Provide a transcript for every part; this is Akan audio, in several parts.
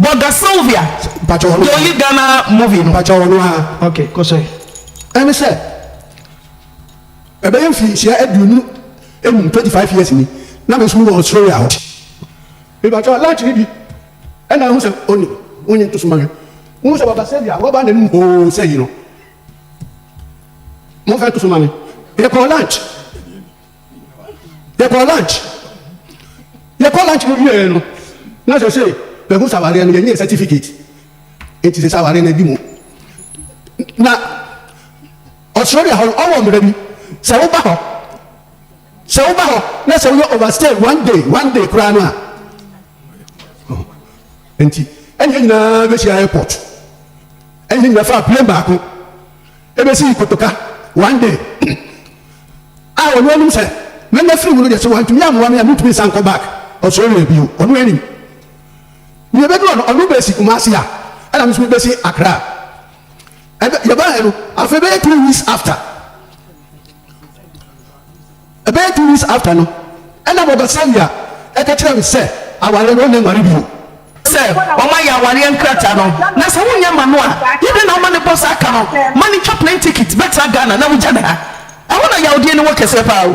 Bɔga Sylvia the only Ghana movie no. Pakyɛ ɔno aa. Ok kɔ so ɛ. Ɛne sɛ ɛbɛyɛ mfirinhyia aduonu num twenty five years ni na me nso me wɔ Australia hɔ. Me pakyɛ lunch no bi ɛna ahu sɛ ɔnim wo nyi nto so ma me nhu sɛ Bɔga Sylvia waba n'anum hoo sɛ yi no mo nfa nto so ma me. Yɛkɔɔ lunch. yɛkɔɔ lunch yɛkɔɔ lunch no wieɛ no na sɛ sɛ mahu sɛ awareɛ no yɛnyɛɛ certificate nti sɛ sɛ awareɛ no adi mu na Australia hɔ no ɔwɔ mmara bi sɛ woba hɔ sɛ woba hɔ na sɛ woyɛ overstay one day one day koraa no a nti ɛne yɛn nyinaa bɛhyia airport ɛne yɛn nyinaa faa plane baako Ebesii kotoka one day a ɔno anim sɛ na mafiri mu no deɛ sɛ wantumi ammoa me a mentumi nsan nkɔ back Australia bio, ɔno anim. Na yɛbɛduru hɔ no ɔno besi Kumasi a ɛna me nso mebesi Accra. Ɛbɛ yɛbaeɛ no afei bɛyɛ two weeks after Ɛbɛyɛ two weeks after no ɛna Mother Sylvia ɛka kyerɛɛ me sɛ aware no ɔnne nware bio. Sɛ wɔn ayɛ awareɛ nkrataa no na sɛ wonyɛ ma no a yɛ dɛn na woma no bɔ saa ka no ma no twa plane ticket bɛtra Ghana na wogya no ha? Ɛhɔ na yawdeɛ no wɔ kɛseɛ paa o.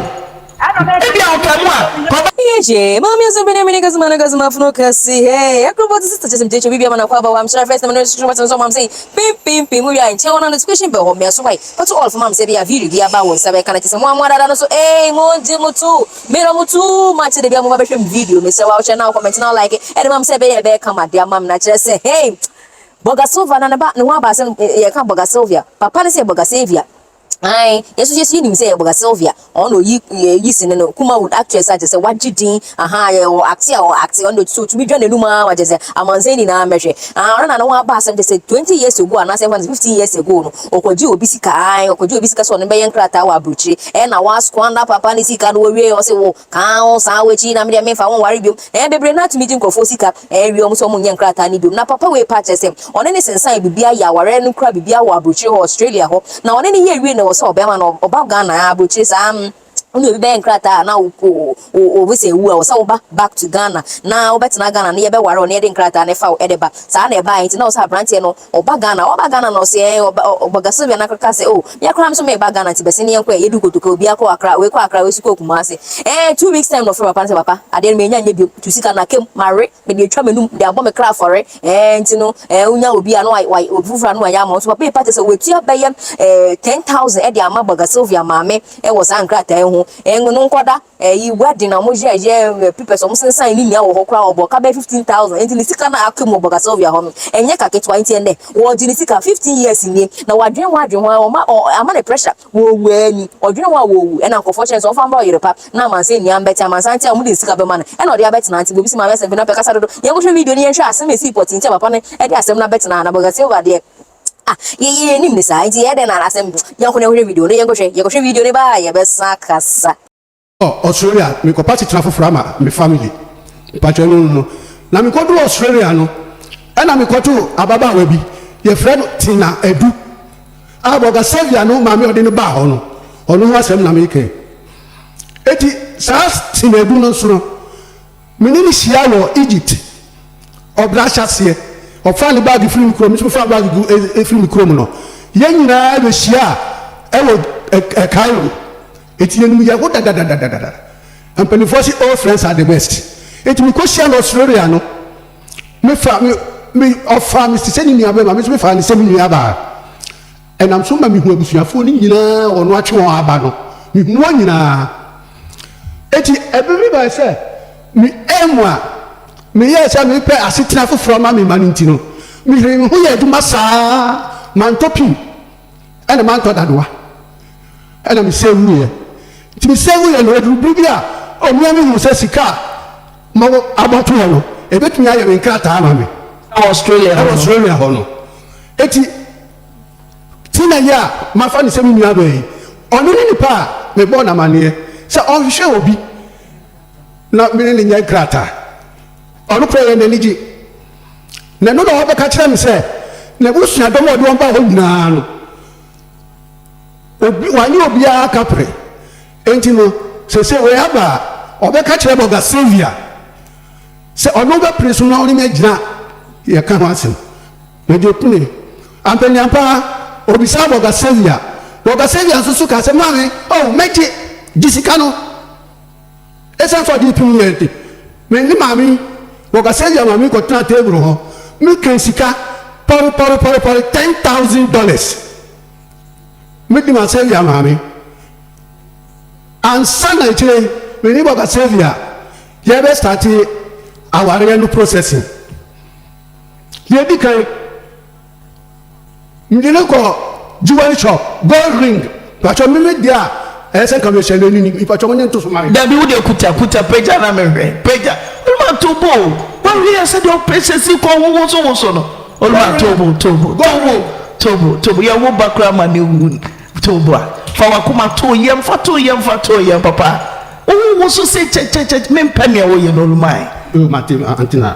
Ebia ɔkaa mu a. Yɛgye Maame Asɛm Pɛ ne Amene Kazima na Kazima Fono Kɛse Hey Ɛkro Bɔ Tese Tese Mtecho Bibi Amana Kwa Abawa Mhyira First Name Ɛno Ɛhyɛ Hyɛ Matin Nso Amam Sei Pim Pim Pim Mu Wia Nkyɛ Wɔn Ano Education Bɛ Hɔ Mmea So Hwae Foto ɔlfo mam sɛ bia video bi aba wo nsa bɛka no kyesɛ moa moa dada no so eii mongye mo to me dɔ mo too much sɛ dabia moba bɛhwɛ me video mesrɛ wo a wohyɛ na wo comment na wo like ɛde mam sɛ ɛbɛyɛ ɛbɛyɛ kama de amam na kyerɛ sɛ hey Bɔga Silva na ne ba ne ho aba asɛm yɛka Bɔga Silvia papa no sɛ Bɔga Savia ae yɛso yɛso yɛnim sɛ yɛ Bɔga Silvia. Ɔno na oyi eh, yi sini no, Kumawood actress a kyerɛ sɛ wagye din ahaa yɛ ɔ acte a ɔ acte, ɔno na otumi dwa n'anum ara ma kyerɛ sɛ amansan nyinaa mmɛhwɛ. Ahaa ɔno na ne ho aba asɛm kyerɛ sɛ twenty years ago anaasɛ yɛmfa no sɛ fifteen years ago no ɔkɔgyee obi sika ae, ɔkɔgyee obi sika sɛ ɔne no bɛyɛ nkrataa wɔ abrokyire, ɛna wa squander papa no sika no, owiee ɔse wo kaa wo saa w'akyi na me deɛ memfa wo nware biom. Ɛɛ bebree no atumi gye nkurɔfoɔ sika ɛɛ wie ɔmo sɛ ɔmo nyɛ nkrataa no biom na papa wei paa kyerɛ sɛ ɔne no sensaneɛ biribiaa yɛ awareɛ no kura biribiaa wɔ abrokyire hɔ Australia hɔ na ɔne no yɛɛ wiei na ɛwɔ sɛ ɔbɛɛma no ɔba Ghana aa abrokyire saa mm wone obi bɛyɛ nkrataa a na wo wo wo visa awu a ɛwɔ sɛ woba back to Ghana na wobɛtena Ghana na yɛbɛware wo na yɛde nkrataa no ɛfa wo ɛde ba saa na ɛbaeɛ nti na ɛwɔ sɛ abranteɛ no Ɔba Ghana? Ɔba Ghana na ɔse ɛɛ ɔba ɔ ɔba Ga Sylvia na kaka se oh me koraa me nso meba Ghana nti bɛse ne yɛnkɔ ɛ, yɛdu kotoka obiara kɔ Accra, wei kɔ Accra wei nso kɔɔ Kumasi. Ɛɛ two weeks time na ɔfrɛ papa no se papa adeɛ no menya nyɛ biom, tu sika no aka mu, mawe, mede atwa m'anum, mede abɔ me kra afɔre, ɛɛ nti no ɛɛ wonya obi a na wa wa obi foforɔ a na wayɛ ama wo nso papa yi pate sɛ watua bɛyɛ ɛɛ ten thousand de ama ɔba Ga Sylvia maame wɔ saa nkrataa yi ho, ɛɛ ngo no nkɔda. Eyi wedding a wɔyɛ yɛ ɛ pipɛs wɔn sensan ne nyinaa wɔ hɔ koraa ɔbɔ ka bɛyɛ fifteen thousand nti ne sika na aka mu wɔ bɔga sylvia hɔ no ɛnyɛ ka ketewa nti ɛnɛ wɔgye ne sika fifteen years nie na wadwene ho adwene ho ɔma ɔ ama ne pressure wɔwu ani ɔdwene ho a wɔwu ɛna nkɔfoɔ kyɛn sɛ ɔmfa mbrɛ ɔyere pa na amansan nyinaa mbɛte amansan te a wɔn de ne sika bɛma no ɛna ɔde abɛtena nti bobi si maame asɛm bi na pɛ kasa dodo yɛn kɔhwɛ video no yɛn hwɛ asɛm esi pɔtee nti a papa no ɛde asɛm no abɛtena ha na bɔga sylvia deɛ Ah, yɛyɛ yɛnim ne saa, nti yɛyɛ dɛn na asɛm no yɛnko na ɛhwɛ video no, yɛnkɔhwɛ, yɛkɔhwɛ video no ba a yɛbɛsan akasa. Kɔ Australia mekɔ party tra foforɔ ama me family mpakyɛ ɛno no no na mekɔ duru Australia no ɛna mekɔ to ababaawa bi yɛfrɛ no Tina Adu a bɔga Saviour no maame ɔde no baa hɔ no ɔno ho asɛm na meka yi eti saa Tina Adu no nso no Me ne no hyiaa wɔ Egypt ɔbra ahyɛaseɛ. Ɔfaa ne baage firii me kurom, me nso mefaa me baage gu firii me kurom no. Yɛn nyinaa bɛhyiaa wɔ Cairo. Enti yɛnim yɛn ho dadadadadada. Mpanimfoɔ se old friends are the best. Enti mekɔhyiaa no Australia no, mefaa me, me, ɔfaa me te sɛ ne nuabɛma, me nso mefaa no sɛ me nuabaa. Ɛnam so ma mihu abusuafoɔ no nyina ara a wɔn atwe wɔn aba no. Mehunu wɔn nyina ara. Enti ɛberɛ bi baeɛ sɛ me aim a meyɛɛ sɛ mepɛ asetena foforɔ ma me mma no nti no, meheree me ho yɛɛ adwuma saa ara, mantɔ pin ɛna mantɔ dadoa ɛna me save wuiɛ. Nti me save wuiɛ no ɛduru berɛ bi a ɔnua bi huu sɛ sika a mawɔ abɔtoɔ no ɛbɛtumi ayɛ me nkrataa ama me. Ɛwɔ Australia hɔ no. Ɛwɔ Australia hɔ no. Enti Tina yi a mafa no sɛ me nuabea yi, ɔno ne nipa a mebɔɔ no amanneɛ sɛ ɔnhwehwɛ obi na me ne no nyɛ nkrataa. Ɔno koraa ɛyɛ n'ani gye, na ɛno na ɔbɛka akyerɛ me sɛ n'abusuadɔm a ɔde wɔn baa hɔ nyinaa no, obi, wanyɛ obiara kapre. Enti no, sɛ sɛ wei aba a, ɔbɛka akyerɛ Bɔga Sylvia sɛ ɔno bɛpene so na ɔne me agyina yɛka ho asɛm. Mede pue. Ampaniampa ara, obisaa Borgasavia. Borgasavia nso so kaa sɛ, Maame, oh, mɛgye. Gye sika no. Esiane sɛ ɔde pim yɛn nti, me ne Maame, Borgasavia maame kɔtenaa table ho. Mekan sika pɔre-pɔre-pɔre-pɔre, ten thousand dollars. Medi ma Savia maame. Ansa na akyire yi, me ne Borgasavia yɛbɛstarte awareɛ no processing. Deɛ ɛdi kan, megye no kɔ jewelry shop, gold ring, mpakyɛ meme deɛ a ɛyɛ sɛ nka mehyɛ no anini, mpakyɛ mo nye nto so ma me. Dabi wo deɛ kuta kuta pagya na menhwɛ, pagya, Olumaa to bo o, wahwɛ yɛ sɛdeɛ ɔpɛsɛ si kɔ ho woso woso no, Olumaa to bo to bo to bo to bo to bo, yɛwo ba koraa ma ne wu to bo a, fa wakoma to yɛm, fa to yɛm, fa to yɛm papa, wo ho woso se kyɛkyɛkyɛ, mempɛ nea woyɛ no Olumaa e. Olumaa te ante na.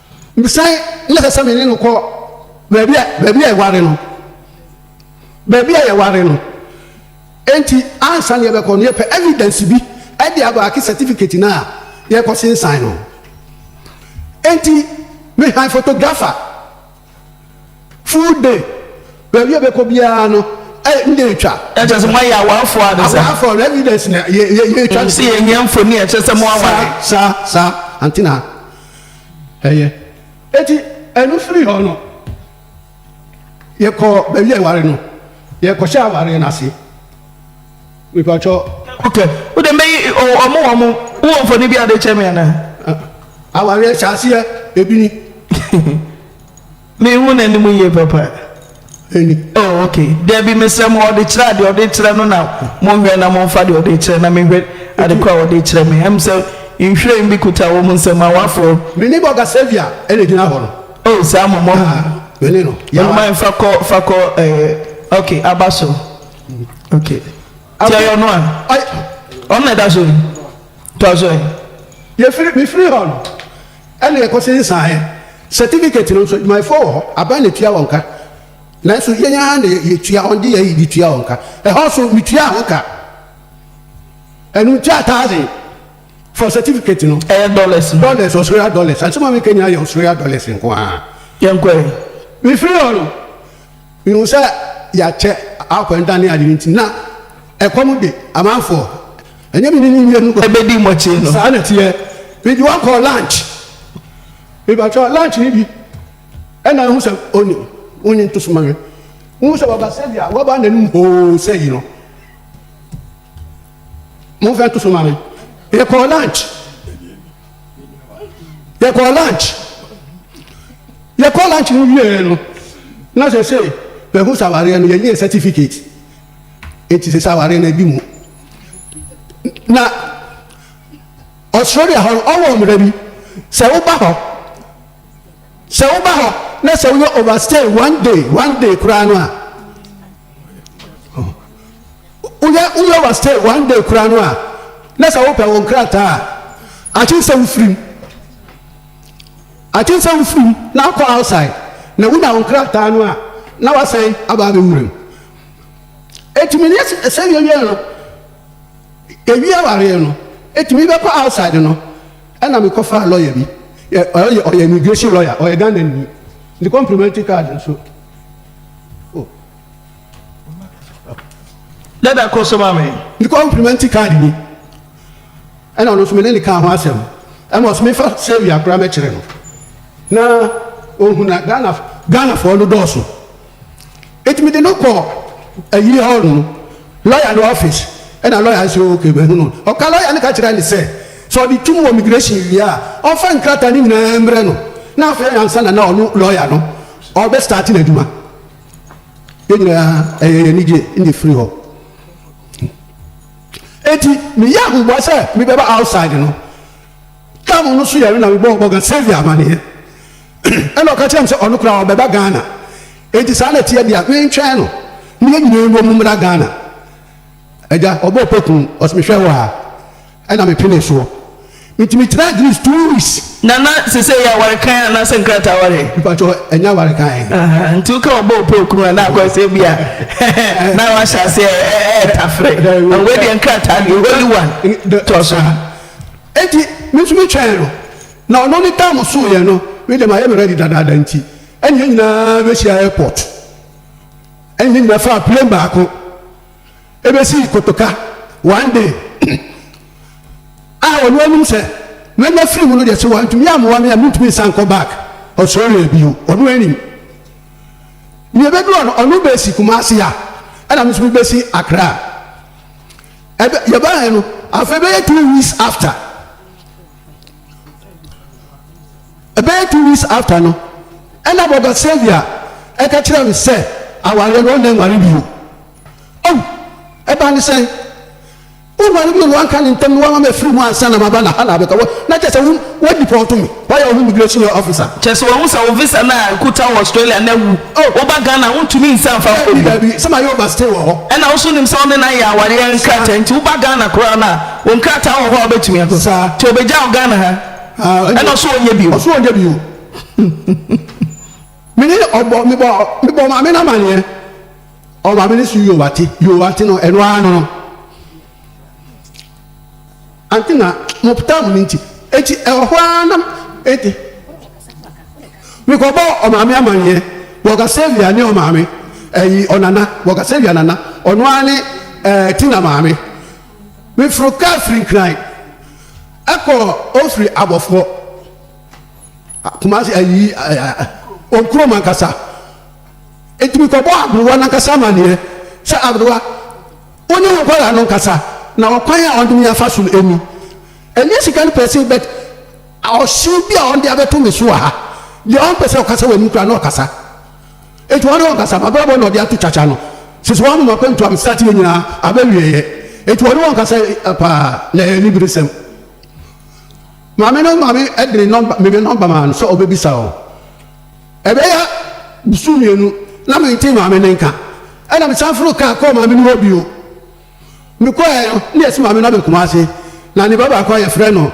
Mesan na ɛsɛ sɛ me ne no kɔ baabi a baabi a yɛware no, baabi a yɛware no. Enti ansa na yɛbɛkɔ no, yɛpɛ evidence bi de abaake certificate no a yɛrekɔsensan no. Enti mehan photographer full day, baabi a yɛbɛkɔ biara no, eh, ne yɛretwa. Ɛkyerɛ sɛ moayɛ awarefoɔ ara ne saa? Awarefoɔ no, evidence na yɛ yɛ yɛretwa. Sɛ yɛhia mfoni a ɛkyerɛ sɛ moaware. Saa saa saa, Antenna. Ɛyɛ. Enti ɛno firii hɔ no, yɛkɔɔ baabi a yɛware no, yɛkɔhyɛɛ awareɛ no ase. Mepakyɛw. Ok, wo deɛ mɛyi ɔmo wɔ ɔmo. Wo wɔ mfoni bi a wode rekyerɛ me anaa? Awareɛ hyɛ aseɛ, ebi ni. Menhu n'anim yie papa. Ani. Oh ok, dabi mesrɛ mo ɔde kyerɛ a deɛ ɔde kyerɛ no na mo nhwɛ na mo nfa deɛ ɔde kyerɛ na menhwɛ ade korɔ a ɔde kyerɛ me. Ɛm sɛ nhwiren bi kuta wɔn nsam a wɔaforo. Me neighbour ga Saviour na ɛgyina hɔ no. Oh saa mo mmɔ ho. Ah me ne no yɛ one. Mama nfa kɔ fa kɔ ɛɛ ok aba so ok nti ɛyɛ ɔno a? Ɔyɛ. Ɔno na ɛda so yi? Toa so ɛ. Yɛfiri mefiri hɔ no. Ɛnna yɛkɔsen saeɛ. Certificate no nso, adwumayɛfoɔ wɔ hɔ, aban na ɛtua wɔn ka. Nanso yɛn ara na yɛtua, wɔde yɛn ayɛ de tua wɔn ka. Ɛhɔ nso, metuaa ho ka. Ɛno nti a thousand for certificate no. Ɛyɛ dollars no. Dollars, Australia dollars. Asɛm a meka nyinaa yɛ Australia dollars nko ara. Yɛnkɔe. Mefiri hɔ no, mehuu sɛ yɛakyɛ akwanhda ne ade no nti, na ɛkɔm de amanfoɔ. Ɛnyɛ me ne no mmienu kɔ. Ɛbɛdi mo akyi no. Saa na ɛteɛ. Me de wɔn kɔɔ lunch. Mepakyɛw, lunch no bi na ahu sɛ ɔnnim? Wonyi nto so ma me. Wohu sɛ waba sɛdeɛ waba n'anim hoo sɛ yi no? Momfa nto so ma me. Yɛkɔɔ lunch. Yɛkɔɔ lunch. Yɛkɔɔ lunch no wieeɛ no, na sɛ sei, mahu sɛ awareɛ no, yɛnyɛɛ certificate. Enti sɛ sɛ aware no adi mu na Australia hɔ no ɔwɔ mmara bi sɛ woba hɔ sɛ woba hɔ na sɛ woyɛ overstay one day one day koraa no a woyɛ woyɛ overstay one day koraa no a na sɛ wopɛ wo nkrataa a akyen sɛ wofirim akyen sɛ wofirim na akɔ outside na wonya wo nkrataa no a na wasan aba abɛwuram Etumi ne sɛ sɛ wiawia no ewie awareɛ no etumi bɛkɔ outside no ɛna mekɔ faa lawyer bi ɔyɛ ɔyɛ immigration lawyer ɔyɛ Ghana ni ne complimentary card nso. Oh. Dada kɔ so ma me. Ne complimentary card ni ɛna ɔno nso me ne ne kaa ho asɛm ɛma ɔsɛ mefa sɛwia koraa mɛkyerɛ no na ohun na Ghana Ghanafoɔ no dɔɔso. Enti mede no kɔɔ ayiri hɔ no lɔya no ɔfis na lɔya nso hunu no. Ɔka lɔya no ka kyerɛɛ no sɛ, sɛ ɔde tom wɔ migirehyin wie a, ɔmfa nkrataa no nyinaa mmrɛ no na afei ansa na na ɔno lɔya no ɔrebɛstarte n'adwuma. Yɛn nyinaa, ɛyɛɛ yɛn anigye na yɛfirii hɔ. Enti meyɛɛ ahoboa sɛ mebɛba Outside no. Tam no so yɛre na mebɔɔ Morgan Saviour amanneɛ. Ɛna ɔka kyerɛɛ me sɛ ɔno koraa ɔbɛba Ghana. Enti saa na ɛteɛ deɛ, mentwɛn no na yɛn nyinaa mmom mmra Ghana. Agya, ɔbɔɔ paku, ɔse mehwɛ wo aa. Ɛna mepenee soɔ. Enti metraa Greece two weeks. Nana, sesei yɛ aware kann anaasɛ nkrataa aware? Mepakyɛw, ɛnyɛ aware kann. Ahaa, nti woka ɔbɔɔ paku a, na akɔyɛ sɛ ebia na wahyɛ aseɛ retafere. Ɛhɔ wei deɛ nkrataa deɛ, holy one, tɔ so. Enti me nso metwɛn no. Na ɔno ne time so yɛ no me de mayɛ me ready dadaada nti ɛne yɛn nyinaa bɛhyia airport ɛne yɛn nyinaa faa plane baako ɛbɛsi kotoka one day a ɔno anim sɛ mɛnya firi mu no deɛ sɛ wantumi amoa me a mentumi nsan kɔ back Australia bio ɔno anim ne ɛbɛdu ɔno ɔno bɛsi Kumasi a ɛna me nso mebɛsi Accra ɛbɛ yɛbaeɛ no afei bɛyɛ two weeks after Ɛbɛyɛ two weeks after no ɛna Brɔda Xavier ɛka kyerɛɛ me sɛ awareɛ no ɔnna nware bio. Oh! Ɛbaa ne sɛn? Wonware bio na wanka ne ntɛm na wama mafiri mu ansa na maba na ha na abɛka wɔ na kyɛ sɛ wo wɔ deport me wayɛ wo ho immigration officer. Kyɛ sɛ wahu sɛ wo visa no a nkuta wɔ Australia no awu. Oh! Woba Ghana a wontumi nsan mfa nkɔ Daabi bio. daabi sɛ mayɛ over stay wɔ hɔ. Ɛna wo nso wonim sɛ wo ne no ayɛ awareɛ nkrataa nti woba Ghana koraa no a Wo nkrataa wɔ hɔ a wobɛtumi akɔ. Saa. Nti ɔbɛgya wo Ghana ha Ah, ɛna ɔso ɔnyɛ bio. Ɔso ɔnyɛ bio. Me ne ɔbɔ, me bɔ, me bɔ maame no amaneɛ. Ɔ maame no so yoo ate, yoo ate no, ɛno ara no no. Ante na, mo time no nti. Enti ɛwɔ hɔ ara na, enti. Me kɔ bɔ ɔmaame amaneɛ, bɔ Ɔkasavia ne ɔmaame, ɛyi, ɔnana, bɔ Ɔkasavia nana, ɔno ara ne, ɛɛ, Tina maame. Meforo kaa firi Nkran kɔ Ofiri Abɔfoɔ Kumasi ayi wɔn kurom ankasa. Nti mekɔbɔɔ Aberewa no ankasa amaneɛ sɛ Aberewa wo ne wo nkwadaa no nkasa na ɔkwan a wɔde me afa so no ni. Ɛnyɛ sika no pɛsee but ɔhyew bi a wɔde abɛto me so wɔ ha. Deɛ ɔmpɛ sɛ ɔkasa wɔ anim koraa na ɔkasa. Enti ɔno ankasa m'abrabɔ na ɔde ato kyakya no sisi hɔ ama m'akwantu a mesakyere nyinaa aba awieɛ. Enti ɔno ankasa paa na ɛyɛ aniberesɛm. Maame no ma me de ne nɔmba, me me nɔmba maa no sɛ ɔbɛbisa hɔ. Ɛbɛyɛ bosom mmienu na mentee maame no nka. Ɛna mesan foroo kaa kɔɔ maame no hɔ bio. Mekɔeɛ no na yɛasi maame no abɛn Kumasi na ne ba baako a yɛfrɛ no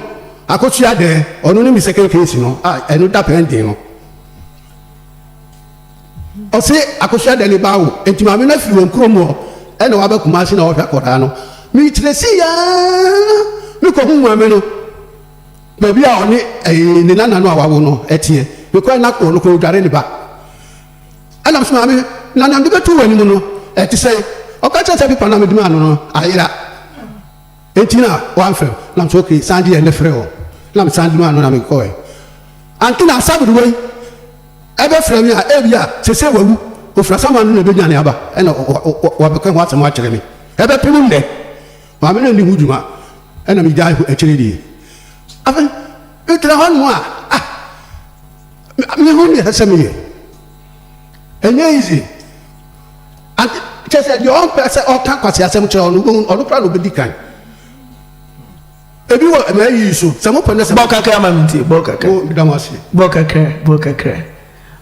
Akosua Adɛɛ, ɔno ne me second case no a ɛno da pɛn den no. Ɔse akosua dɛ ne ba awo enti maame no afiri wɔn kurom hɔ na waba Kumasi na ɔrehwɛ akwadaa no. Mekyinasii aa mekɔhuu maame no baabi a ɔne ne nana no a wawo no teɛ. Mekɔɛ na ɔno koraa ɔredware ne ba. Ɛna mese maame na nea mede bɛto w'anim no ɛte sɛn? Ɔka kyerɛɛ sɛ pepa no a mede maa no no ayera. Enti na wɔamfrɛ me, na mese, Ok, san de yɛn de frɛ wɔn. Na mesan de maa no, na mekɔe. Anke na Asabd wei bɛfrɛ me a, ebia seesei wawu. Ofiri asaman no na ebedwane aba na wabɛka ɛho asɛm akyerɛ me. Ɛbɛpem nnɛ. Maame no nni ho dwuma, ɛnna migyae hɔ akyiri yi. Afei megyina hɔnom a, ah, mehu nea ɛsɛ sɛ meyɛ. Ɛnyɛ easy. Ade kyerɛ sɛ deɛ ɔmpɛ sɛ ɔka nkwaseasɛm kyerɛ ɔno wobɛhu ɔno koraa na ɔbɛdi kan. Ebi wɔ ɛma ayi so sɛ mopɛ na sɛ. Bɔ kakra ma me ntie bɔ kakra. Oh meda mo ase. Bɔ kakra bɔ kakra.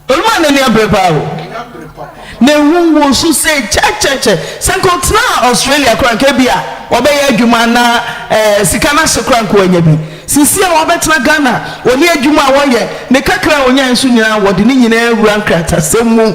Olumaa n'ani abere paa o. N'ani abere papa. Mehu wo so sei kyɛkyɛkyɛ. Sɛ nka ɔtenaa Australia koraa nka ebi a wabɛyɛ adwuma na eh, sika no ahyɛ koraa nka wanya bi. Sisi a wabɛtena Ghana, ɔne adwuma a ɔyɛ, ne kakra a ɔnyae nso nyinaa wɔde ne nyinaa awura nkratasɛm mu.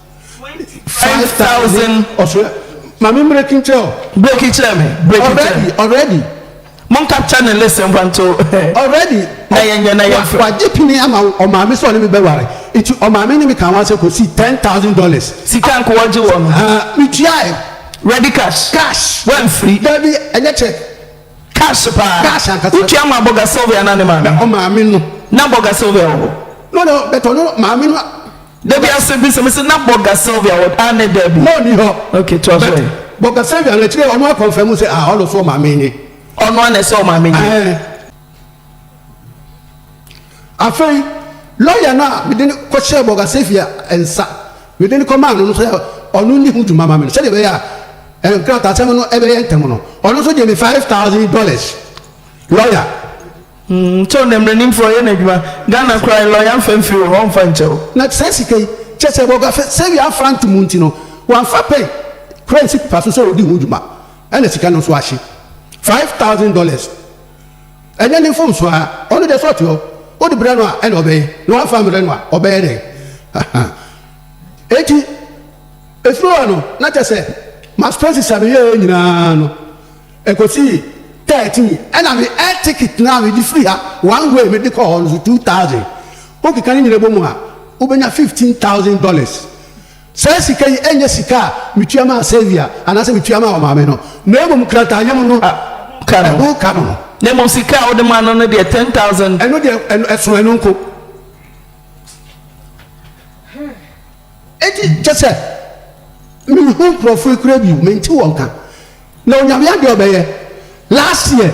Five thousand. Ɔfrɛ maame mmereki nkyerɛ o. Breki kyerɛ me. Breki kyerɛ Already me. already Mon capture ne listen mfa nto already na yɛn yɛ na yɛn fɛ. wagye pini ama ɔmaame sɛ ɔne me bɛware nti ɔmaame ne me kaa ho asɛm kɔsii ten thousand dollars. Sika nko ɔgye wɔ no. Haa metuae Ready cash. cash. Wamfiri. Dabi ɛnyɛ check. Cash paa. Cash ankasa. Wotua maa Bɔga Sylvia anaa ne maame? Na ɔmaame no. Na Bɔga Sylvia wɔ hɔ? No no but ɔno maame no. Dabi asem bi se mese na Bogga Sylvia wɔ ah ne dabi. Na ɔni hɔ. Ok toa so ɛ. Bogga Sylvia no akyire ɔno akɔnfɛmu se ah ɔno so ɔmaame nye. Ɔno ana ɛsɛ ɔmaame nye. Ɛɛ. Afei lɔya no a mede no kɔhyɛɛ Bogga Sylvia nsa mede no kɔmaa no no sɛ ɔno nni ho dwuma ma me no sɛdeɛ ɛbɛyɛ a nkrataasɛm no bɛyɛ ntɛm no ɔno nso gyee me five thousand dollars lɔya. Nkyɛw na mmaranimfoɔ yɛ n'adwuma. Ghana koraa lɔya mfa mfiri wɔ hɔ ɔmfa nkyɛw. Na saa sika yi, kyerɛ sɛ wɔ Garsewia afrante mu nti no, wamfa pɛn kura ansi pepa so sɛ ɔredi ho dwuma, ɛna sika no nso ahye. Five thousand dollars, ɛnyɛ ne mfomsoɔ ara, ɔno deɛ sɛ ɔte hɔ, wode brɛ no a ɛna ɔbɛyɛ, na wamfa ammrɛ no a ɔbɛyɛ dɛn? Hahaa. Enti, ɛfiri hɔ no, na kyerɛ sɛ, m'aspɛnsis a meyɛeɛ nyinaa no, Ɛkɔsii thirty mi ɛna me air ticket no a mede firi ha one way mede kɔɔ hɔ no nso two thousand. Wokeka ne nyina bɔ mu a wobɛnya fifteen thousand dollars. Saa sika yi ɛnyɛ sika a metua maa Sylvia anaasɛ metua maa ɔmaame no na mmom krataayam no ɛho ka no ho. Na mmom sika a wode maa no no deɛ ten thousand. Ɛno deɛ ɛso ɛno nko. Enti kyɛ sɛ menhu nkurɔfoɔ yi koraa bio, mente wɔn nka, na Onyame adeɛ a ɔbɛyɛ, last year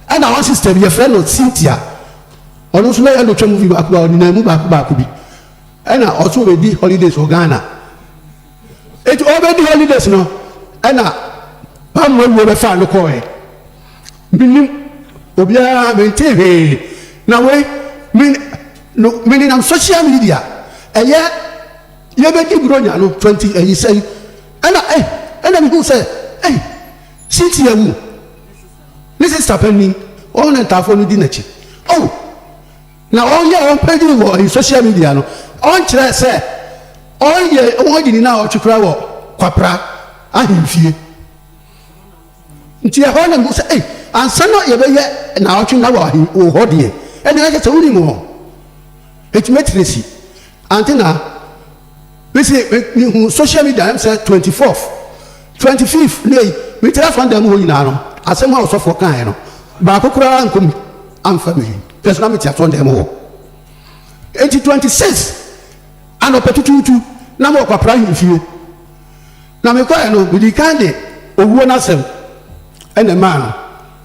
ɛna one sister bi yɛfrɛ no Cynthia, ɔno nso na yɛn dɔ twa movie baako baako, ɔnenam mu baako baako bi, ɛna ɔso ɔbɛdi holidays wɔ Ghana, enti ɔbɛdi holidays no ɛna Pam Mawuo bɛfaa no kɔɔɛ, Mennim obiara, mentee hwee, na wei me no menenam social media ɛyɛ yɛbɛdi Buronya no 20 ayi sɛn ɛna eh ɛna mehuu sɛ eh Cynthia wu, ne sister panin wɔn na ntaafoɔ no di n'akyi oh na wɔn yɛ wɔn page wɔ ɛyi social media no wɔn kyerɛ sɛ wɔn yɛ wɔn adi ne na wɔtwe koraa wɔ Kwapra ahemfie. Nti ɛhɔ na mehu sɛ ei, ansa na yɛbɛyɛ naawɔtwe na wɔ he, wɔ hɔ deɛ, ɛnneɛ na kyerɛ sɛ wonim hɔ. Nti me Tracy, ante na me se me, mehu social media na me sɛ twenty fourth, twenty fifth ne ei, metra fam dan mu hɔ nyinaa no, asɛm a ɔsɔfoɔ kaeɛ no, baako koraa ankɔ mu amfa me he, na nso na mete asɔre dan mu hɔ. Nti twenty sixth anɔpa tutuutu na mewɔ Kwaprahwene fie. Na mekɔeɛ no, medii kan de owuo no asɛm na ɛmaa no,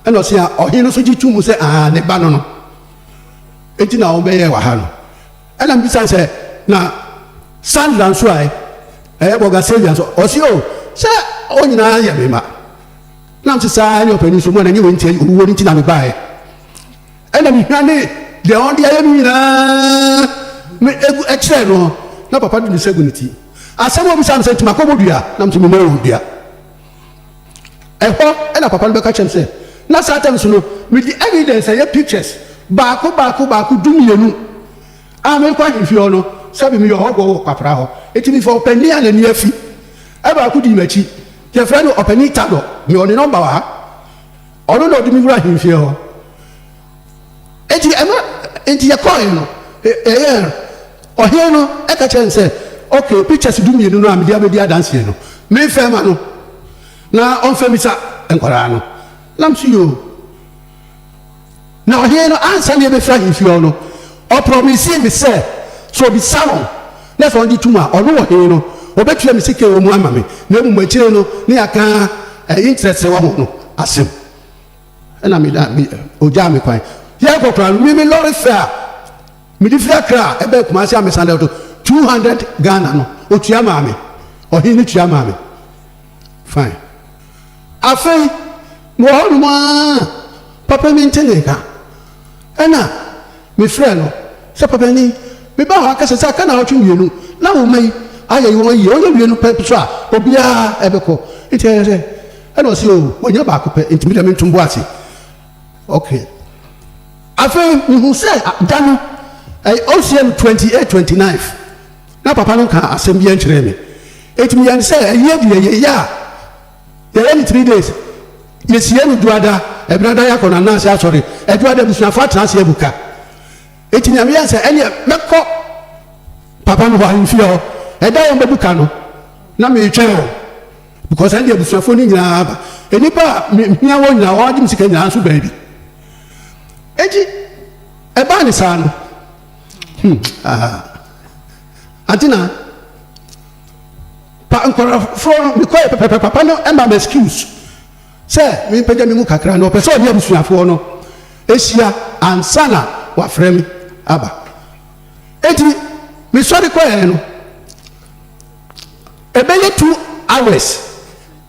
ɛnna ɔsee a ɔhene no nso gye too mu sɛ aane, ne ba no no nti na wɔbɛyɛɛ wɔ ha no. Ɛnna mebisae sɛ, Na Sandra nso ɛ? Ɛyɛ Borgasellian nso? Ɔsee, O, sɛ wɔn nyinaa yɛ me mma. Na mese, Saa ara ne ɔpanin nso, mo a na ɛnyɛ wei nti, ɛyɛ owuo no nti na mebaeɛ. ɛna mihwa ne deɛ ɔde ayɛ no nyinaa me egu ɛkyerɛ no na papa de ne nsa gu ne ti asɛm a ɔbisa no sɛ nti makɔ mo dua na nti mema wɔn dua ɛhɔ ɛna papa no bɛka kyerɛ m sɛ na saa tam so no mede evidence ɛyɛ pictures baako baako baako du mmienu a mekɔ ahemfie hɔ no sɛbi meyɛ ɔhɔbɔ wɔ kwapra hɔ eti mefa ɔpanin a n'ani afi ɛbaako di m'akyi yɛfrɛ no ɔpanin tadɔ mewɔ ne nɔmba wɔ ha Ɔno na ɔde me wura ahemfie hɔ. Enti ɛma enti yɛkɔɔe no, yɛyɛɛ no. Ɔhene no ka kyerɛɛ no sɛ, Okay, pictures dumienu no a mede abɛdi adanseɛ no, memfa mma no na ɔmfa mmisa nkwadaa no. Nam so yoo. Na ɔhene no, ansa na yɛbɛfiri ahemfie hɔ no, ɔprɔmisee me sɛ, sɛ ɔbisa wɔn, na sɛ wɔgye tom a, ɔno, ɔhene no, ɔbɛtua me sika a ɛwɔ mu ama me, na mmom akyire no na yɛaka ɛyi nkyerɛ sɛ wahu no asɛm. Ɛnna me da, me, ɔgyaa me kwan. Yɛrekɔ koraa no, me, me lɔre fɛ a mede firi Accra baa Kumasi a mesan dɛw to, two hundred Ghana no, ɔtua maa me. Ɔhene no tua maa me. Fine. Afei, mewɔ hɔnom ara a, papa bi nte ne nka. Ɛnna mefrɛɛ no sɛ, 'Papanin, mebaa ha kɛsɛ sɛ aka nnawɔtwe mmienu na wo mma yi ayɛ wɔn yiye. Wɔyɛ wie no pɛ nso a, obiara bɛkɔ. Enti ɛyɛ dɛn? Ɛnna ɔse, 'O, wɔanya baako pɛ, enti me deɛ mento me bo ase. Okay. Afei, mehuu sɛ da no, ɛyɛ Ɔsea no twenty eight, twenty nine. na papa no nkaa asɛm biara nkyerɛɛ me. Enti meyɛɛ no sɛ ayi adu yɛ yɛ yɛ a yɛyɛ no three days. Yɛsie no Dwoada, Ɛbenada yɛakɔ no Ananse Asɔre, Ɛdwoada abusuafo atena ase abu ka. Enti nea meyɛɛ ne sɛ ɛneɛ mɛkɔ papa no hɔ ahemfie hɔ, ɛda a wɔbɛbu ka no na meretwɛn wɔn because ɛnde abusuafoɔ no nyinaa aba. Nnipa a mehia wɔn nyinaa, wɔn agye me sika nyinaa nso baabi. Enti ɛbaa ne saa no, Hmm, aha. Ante na. Pa nkorɔfoɔ no mekɔ yɛ pɛpɛpɛ papa no ɛma me excuse sɛ mempagya me mu kakra na ɔpɛ sɛ ɔne abusuafoɔ no ɛhyia ansa na wafrɛ me aba. Eti mesɔre kɔɛ no ɛbɛyɛ two hours.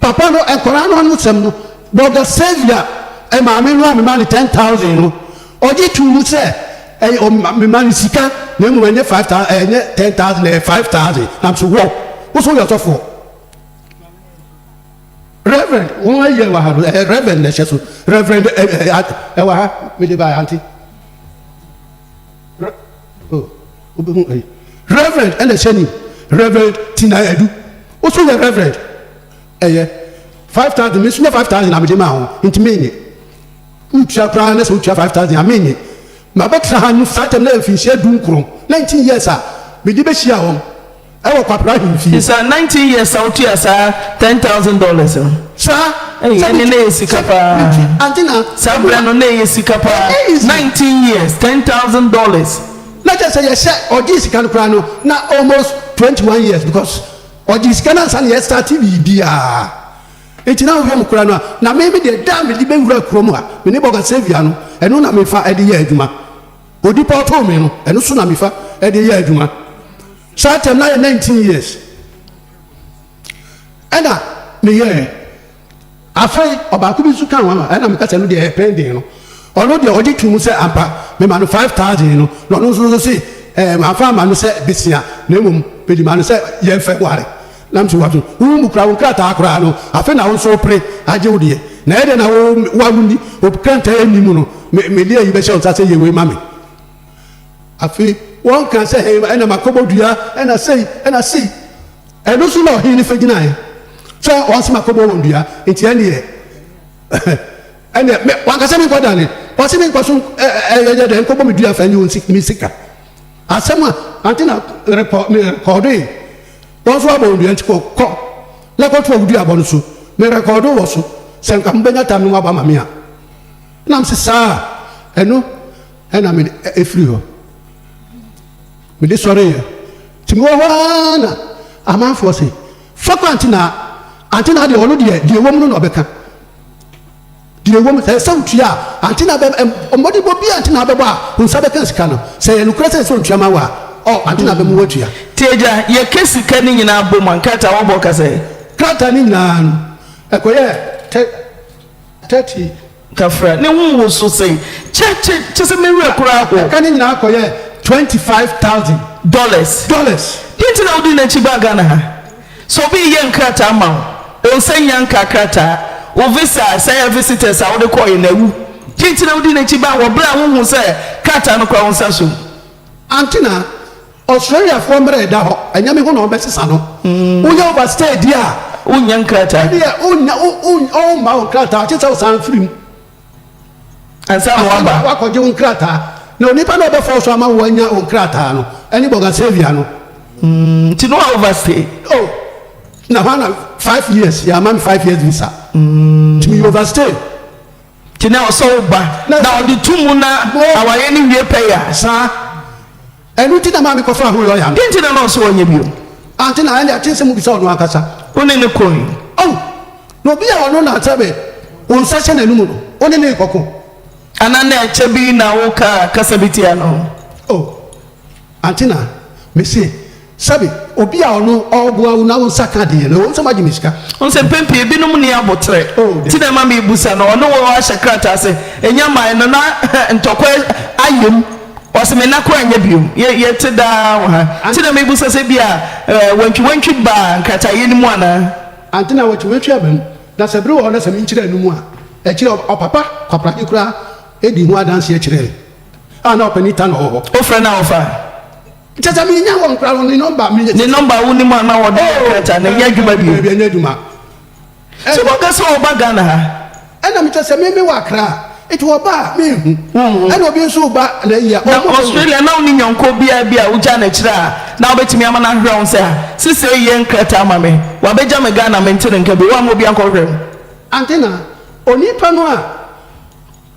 Papa no nkwadaa no ano sɛm no, Brɔda Xavier, maame no a mema no ten thousand no, ɔgye too mu sɛ, Ɛyɛ ɔm, mema no sika, na mmom ɛnyɛ five thou, ɛnyɛ ten thousand, ɛyɛ five thousand. Nam so, Wow! Wo nso woyɛ ɔsɔfoɔ? Reverend, wɔn ayi ɛwɔ ha no, ɛɛ, Reverend na ɛhyɛ so. Reverend, ɛ, ɛ, ɛ, ɛwɔ ha, mede baeɛ, ante? Re, oh. Wobɛhu ɛyi. Reverend ɛna ɛhyɛ nim. Reverend Tina Adu. Wo nso yɛ Reverend. Ɛyɛ. Five thousand me nso nyɛ five thousand na mede maa wo nti mennye. Woretua koraa na sɛ wotua five thousand a mennye. Mabɛtena ha no saa tam no yɛ mfinhyia du nkron, nineteen years a mede bɛhyia wɔn. Ɛwɔ kwabena ahemfie. It's her nineteen years a otua saa ten thousand dollars no. Saa. Ei Sɛ ɛne na metwi ɛyɛ sika sɛ paa. metwi ante na. Saa ɛmu berɛ no na ɛyɛ sika paa. Ɛnyɛ easy. Nineteen years, ten thousand dollars. Na kyerɛ sɛ yɛhyɛ ɔgyee sika no koraa no na almost twenty one years because ɔgyee sika no ansa na yɛstarte biribiara nti na wohwɛ mu koraa no a na me me deɛ da a mede bɛwura kurom a me ne bɔga Saviour no ɛno na mefa de yɛ adwuma. Odi pa ɔtɔɔ me no, ɛno so na mefa de yɛ adwuma. Saa tɛm no ayɛ nineteen years ɛna meyɛɛ. Afei ɔbaako bi nso kaa ho a ɛna meka sɛ ɛno deɛ ɛyɛ pending no, ɔno deɛ ɔgye tom sɛ ampa mema no five thousand no na ɔno nso se ɛɛ mamfa amma no sɛ besia na mmom mede maa no sɛ yɛmfa nware. Na mese w'aso, wo mu kura wo nkrataa koraa no, afei na wo nso wopere agye wo deɛ, na ɛyɛ dɛn na wo wo a wonni obkrantaa nni mu no, me mede ayi bɛhyɛ wo nsa sɛ yɛ wei ma me? Afei wɔkaa sɛ, He, ɛnna makɔbɔ dua, ɛnna sei, ɛnna sei. Ɛno so na ɔhene no fa gyinaeɛ, sɛ wɔse makɔbɔ wɔn dua, nti ɛnneɛ, ɛnneɛ me, wanka sɛ menkɔdane, wɔse menkɔ so ɛ, ɛ, ɛ, yɛ dɛn nkɔbɔ me dua mfa nnye wo nsi, me sika. Asɛm a ante na merepɔ me rekɔɔdoe. Wɔn nso abɔ wo dua nti kɔ, kɔ na kɔtoa wo duabɔ no so. Me rekɔɔdo wɔ so, sɛ anka mobɛnya tam no moaba ma me a. Ɛnam se saa a, ɛno na mede ɛfiri hɔ. Mede sɔreeɛ. Nti mewɔ hɔ ara na amanfoɔ se, Fa kɔ Antenaa. Antenaa deɛ ɔno deɛ, deɛ ɛwɔ mu no na ɔbɛka. Deɛ ɛwɔ mu, sɛ ɛyɛ sɛ wotua a, ante na bɛma, mmɔdenbɔ biara nti na wobɛbɔ a wo nsa bɛka sika no. Sɛ ɛyɛ nokorɛ sɛ ɛsɛ sɛ ɔtua ma wo a, ɔ, ante na bɛma woatua. Nti agya, yɛka sika no nyinaa bom a, nkrataa a wɔbɔ ka sɛ. Krataa no nyinaa no, ɛkɔyɛɛ tɛ, thirty. Kafra ne ho wo so sɛ, Kyɛ, kyɛ, kyɛ sɛ me werɛ koraa ho. Ɛka no nyinaa kɔyɛɛ twenty five thousand. Dollars. Dollars. Deɛ nti na wodii n'akyi baa Ghana ha. Sɛ obi reyɛ nkrataa ma wo, ɔnsan nnya nka krataa. Wo visa a, sɛ ɛyɛ visitors a wode kɔeɛ na awu. Deɛ nti na wodi n'akyi ba wɔ berɛ a wonhuu sɛ krataa no kura wo nsa so no? Antenna, Australiafoɔ mmara a ɛda hɔ, ɛnyɛ me ho na wɔbɛsesa no. Woyɛ overstay deɛ a, Wonnya nkrataa. ɛnneɛ wonnya, wo, wo, wɔremma wo nkrataa gye sɛ wosan firi mu. Ansa na waba. Afei na woakɔgye wo nkrataa. Na onipa no a ɔbɛfa wo so ama woanya wo nkrataa no ne Bogasavia no. Mm, nti na woaoverstay. Oh, na hɔ ara na five years, yɛamma me five years visa. Mm. Nti meyɛ overstay. Nti na ɛwɔ sɛ woba, na wɔde to mu na awareɛ no wie pɛyɛ a. Saa. Ɛno nti na ɛmaa mekɔfaa ho lɔya no. Dɛn nti na na ɔsɛ ɔnyɛ bio? Ante na ɛnde ɛte sɛ mobisa ɔno ankasa. Wo ne no koe? Ao, na obi a ɔno na sɛ me wo nsa hyɛ n'anom no, wo ne no rekɔko. Anaa na ɛkyɛ bi na wokaa kasa bi tia no? O, ante na mise, sɛbe obi a ɔno ɔreboa wo na wo nsa ka ade yɛ no, ɛwom sɛ moagye me sika. Wohu sɛ mpɛn pii ebinom nni aboterɛ, O, nti na daabi. ɛma mebisa no. Ɔne wo ahyɛ krataa sɛ ɛnyɛ mine no, na ntɔkwa ayem Ɔse me nna koro anyɛ bio. Yɛ yɛ te daa wɔ ha. Nti na mebisa sɛ ebia eh, wantwi wantwi baa nkrataeɛ no mu anaa? Ante na wantwi wantwi aba mu. Na sɛ bere wɔ hɔ na sɛ menkyerɛ ano mu a, akyire ɔ ɔpapa Kwaprade koraa dii ho adanseɛ kyerɛɛ me a na ɔpanin Tanor wɔ hɔ. Wofrɛ no a ɔfa? Kyerɛ sɛ mennya wɔn koraa, ne nɔmba, me. Ne nɔmba a wonim a na ɔde yɛ nkrataa no ɛnyɛ adwuma bio? Daabi, ɛnyɛ adwuma. Sɛ waka sɛ ɔba Ghana ha. Ɛna mekyɛ sɛ me mewɔ Accra a, nti ɔba a menhu. Wonhu. Ɛna obi nso reba na ayi a, ɔmo. Na Australia na wonni nyɔnko biara bi a wogyaa no akyire a na wobɛtumi ama no ahwehwɛ wo sɛ, ah, sesei yɛ nkrataa ma me. Wabɛgya me Ghana, mente ne nka bio. Woamma obi ankɔhwehwɛ me? Ante na onipa no a.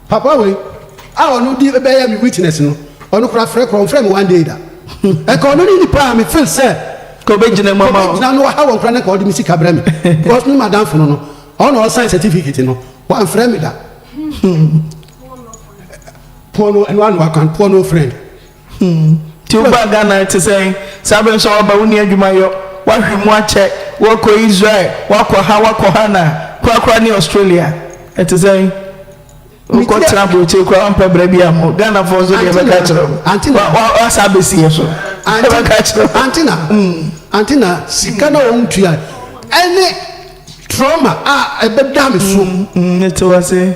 Papa wei a ɔno di bɛyɛ me witness no ɔno koraa frɛ korɔ ɔnfrɛ me one day da nka ɔno ne nipa a me feel sɛ ɔbɛgyina mu ama wo ɔbɛgyina no waha wɔn koraa na nka ɔde me sika brɛ me because me madamfo no no ɔno na ɔsan certificate no wamfrɛ me da poor no ɛno ano akwan poor no friend. Hmm. Nti wo baa Ghana te sɛn? Saa bere nso a woaba wonni adwuma yɔ, woahwe mu akyɛ, worekɔ Israel, woakɔ ha, woakɔ ha na korakora ne Australia. Ɛte sɛn? Wokɔtena aburokyire koraa woampɛ bra biara mpo. Ghanafoɔ nso deɛ ɛbɛka akyerɛ wo. Ante na. Wa- wa- Woasa abɛsi yɛ so. Ante Ɛbɛka na. akyerɛ wo. Ante na. Mm. Ante na sika na wɔn tua ɛne trauma a ɛbɛda me so. Mm, Mete wo ase.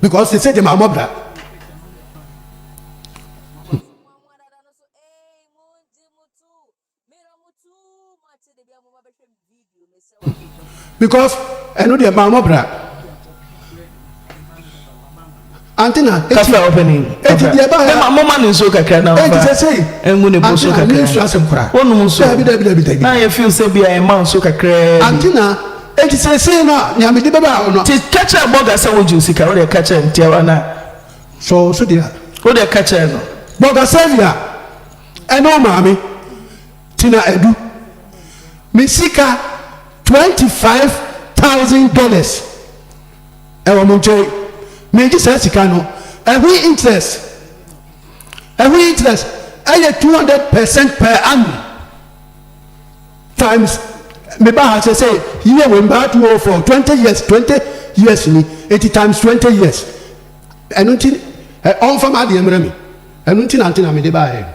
because they say they ma mobra. because ɛno deɛ maa mɔbra antina kasa ɔpɛni eti deɛ ba yɛ mo ma ne nsuo kakra na ɔba eti sɛ sɛ ɛngu ne bo so kakra antina ne nsuo asɛm kora wɔnum nsuo dabi dabi dabi dabi na yɛ fi sɛ bi a ɛma nsuo kakra antina. Enti seesei no a, nea mede bɛba hɔ no. Enti ka kyerɛ Burger sɛ wogye wo sika. Wo deɛ ka kyerɛ no, tiawa no a. Sɔ wo so deɛ. Wo deɛ ka kyerɛ no. Burger Sylvia ne wo maame tena adu. Me sika twenty five thousand dollars wɔ mo nkyɛn. Meregye saa sika no, ɛho interest, ɛho interest yɛ two hundred percent per annum. Times me ba ha sɛ sɛ yie wei mbaa two oh four twenty years twenty years ni nti times twenty years ɛno nti ɛ ɔnfa m'adeɛ mmerɛ me ɛno nti na nti na mede baayɛ no.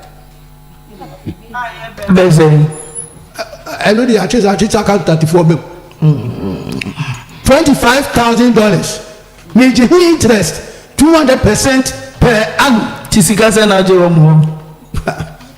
Bɛyɛ sɛ yi. ɛno deɛ atwe saa atwe saa kantantifoɔ bɛm twenty five thousand dollars megye ho interest two hundred percent per annum. Ti sika sɛn na agye wɔ mo hɔ?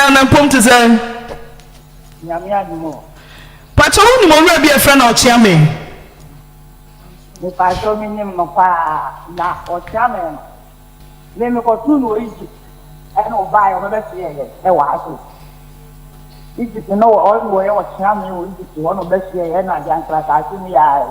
Ɔdaa no mpom te sɛn? Nyame adom o. Pakyɛ wo nim owura bi a yɛfrɛ no ɔkyea me? Mepakyɛ me nim no paa na ɔkyea me no me me kɔ too no wɔ Egypt ɛna ɔbaa yɛ ɔbɛ bɛ soɛ yɛ ɛwɔ ha so Egypt no wɔ ɔno wɔ yɛ ɔkyea me wɔ Egypt hɔ na ɔbɛ soɛ yɛ ɛna adi ankyerɛ asase mu yɛ ayɛ.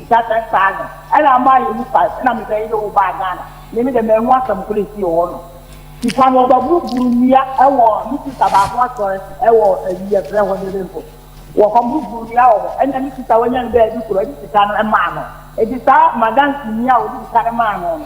Da bɛn saa no na ama ayɛ me kwan na me bɛyere wo baa Ghana? Me me de manhu asɛm koro esi wɔ hɔ no. Sisan wɔba buru buru nua ɛwɔ me sista baako asɔre ɛwɔ ɛyi ɛfrɛ hɔ dɛn mpo wɔkɔ buru buru nua wɔ hɔ ɛna me sista wanya no bɛɛ bi koro ɛde sika no ɛmaa no ɛti saa madansi nua a wɔde sika no maa no no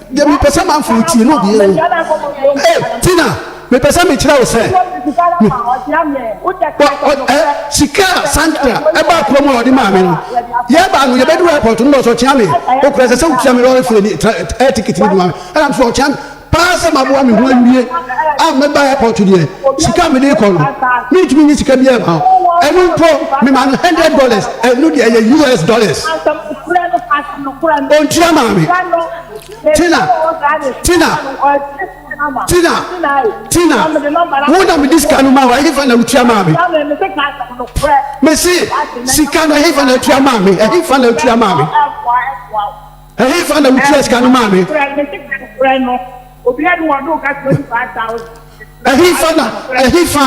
Deɛ mepɛ sɛ manfoɔ tie no deɛ o. Hey, Tina, mepɛ sɛ mekyerɛ wo sɛ sika a Sandra ɛbaa kurom a ɔde maa me no, yɛbaa no yɛbɛduru airport no na ɔsɛ ɔkyea me. Okura sɛ sɛ wotua me lɔre fee ne air ticket no de ma me. Ɛna me sɛ ɔkyea me paa sɛ maboa me ho awie a mɛba airport deɛ sika a mede kɔ no mentumi nye sika biara ma wo. Ɛno mpo mema no hundred dollars, ɛno deɛ ɛyɛ US dollars. Ontua maame. Tina. Tina. Tina. Tina. Wo na mede sika no ma wo. Ɛhefa na wotua maame. Mese sika no ɛhefa na tua maame. Ɛhefa na tua maame. Ɛhefa na wotua sika no maame. Obi a ni wɔn do ka twenty five thousand. Ɛhefa na ɛhefa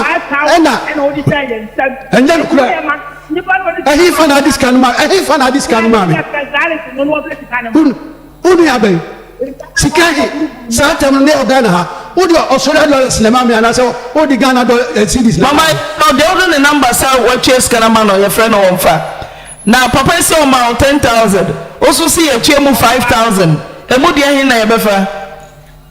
na ɛnyɛ nokorɛ? Ɛhefa na ade sika no maa? Ɛhefa na ade sika no maa me? Wo wo nua bɛn? Sika he saa ntɛm no ne wɔ Ghana ha wode Australia dollars na ɛma me anaasɛ wode Ghana dɔ eh, cedis na Mama no deɛ wode ne number sɛ watua sika no ama no yɛfrɛ no wɔmfa na papa yi sɛ ɔma wo 10000 wo so se yɛtua mu 5000 ɛmu deɛ he na yɛbɛfa?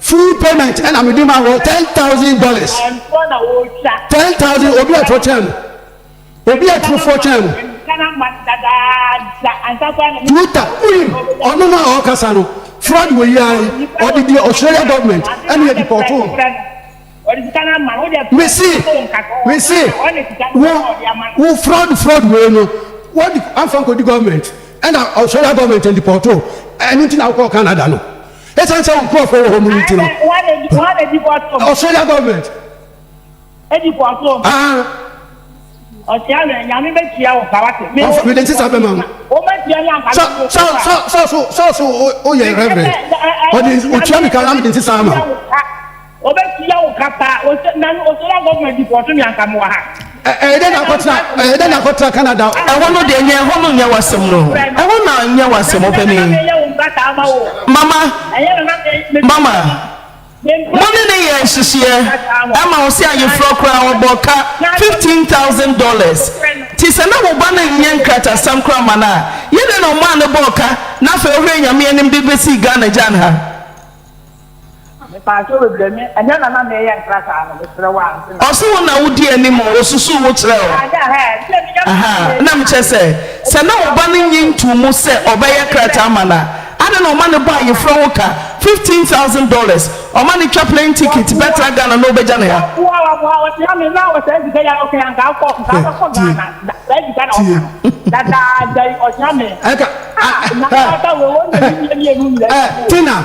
Full payment ɛna me de ma wɔ ten thousand dollars. Ɛnfoɔ na wɔretwa. Ten thousand obi aturo kyɛn no. Obi aturofoɔ kyɛn no. Ghana mma dadaada ansa koraa na. Tuta wonim ɔno no a ɔkasa no fraud wɔ yi ara yi ɔde deɛ Australia government ɛna yɛ depɔtoo no. Mese mese wo wo fraud fraud wei no wɔde afa nkɔdi government ɛna Australia government ndipɔto ɛno nti na wokɔɔ Canada no ɛsiane sɛ wo nkurɔfoɔ wɔ hɔ mu no nti no Australia government mede nsesa bɛma wo sɛ so woyɛ reverend ɔde ɔtua me ka na mede nsesa ama wo Obe tua wo ka paa. Ose na no Australia government di pɔɔso me anka mewɔ ha. Ɛyɛ dɛn na akɔtra ɛyɛ dɛn na akɔtra Canada o? Ɛhɔ no deɛ nyɛ ɛhɔ no nyɛ w'asɛm no o ɛhɔ no nyɛ w'asɛm opanin. Mama mama mo ne no yɛ nhyehyeɛ ɛma wo sɛ ayefrɔ koraa ɔbɔ ka fifteen thousand dollars nti sɛ na wo ba no nyɛ nkratasɛm koraa ma no a yɛ dɛn na ɔmaa no bɔɔ ka na afei ɔhwɛ nyame anim de bɛsii Ghana gyan ha. Ɔse wo na wodi anim o, osusuw wo kyerɛ o. Ahaa, na mekyerɛ sɛ, sɛ na wo ba no nnye ntoo mu sɛ ɔbɛyɛ krataa ma no a, adɛn na ɔma no bɔ ayeforo ho ka, fifteen thousand dollars, ɔma no twa plane ticket bɛtra Ghana na ɔbɛgya no ha? Hwɛ, tie. Tina.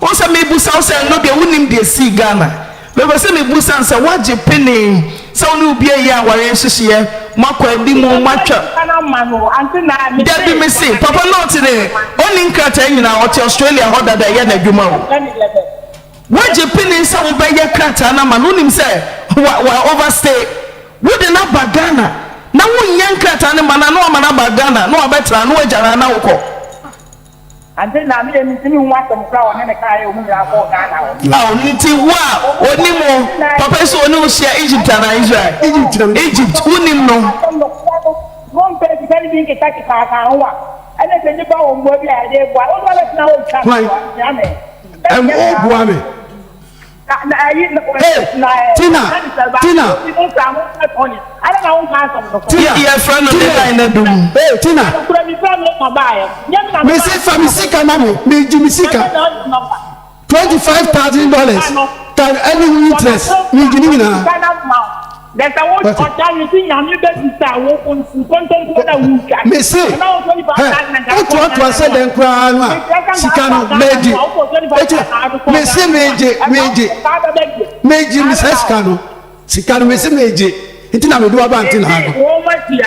Wo sɛ mebusa wo sɛ nnɔ deɛ wonim deɛ ɛsii Ghana mepɛ sɛ mebusa no sɛ woagye penee sɛ wo ne obi ayɛ awareɛ nhyehyeɛ moakɔ anim o moatwa Dabi mese papa no ɔte dɛ ɔnni nkrataa nyinaa ɔte Australia hɔ dada ɛyɛ no adwuma o woagye penee sɛ wobɛyɛ krataa no ama no wonim sɛ wa wa over stay wode no aba Ghana na wonyɛ nkrataa no ma no a na wama no aba Ghana na wabɛtra na wagya no a na wokɔ Ante na meyɛ mentumi nhu asɛm koro a ɔne me kaeɛ ɔmu nyinaa kɔɔ Ghana hɔ. Aw nti wo a onim wo papa si ɔne wo hyia Egypt anaa Israel? Egypt wonim no. Asɛm nokorɛ no mompɛ sika no bi nkeka keka aka ho a ɛne sɛ nnipa wɔ mmoa bi a yɛde boa wo nso wobɛtena hɔ retwa to a, tia me. Ɛm o boa me. Hey, Tina, Tina. Tina, Tina, hey, Tina. Me say fa me sika ma me, me ji me sika. Twenty five thousand dollars, tan any interest, me ji ni nyinaa. There's a word What? ọ̀tá yìí ti nyàmé bẹ́ẹ̀ ti sá wọ́n kò nkóntónkó náà wù twa. mese Ọ̀nà wọ́n twenty four hɛ thousand na gàdúkọ̀ wotoatoa sɛ dɛn koraa no a sika no mɛgye ɛkyɛ mese megye megye megye me saa sika no sika no mese megye nti na mede waba ntena ha no Wọ́n mọ̀ tia.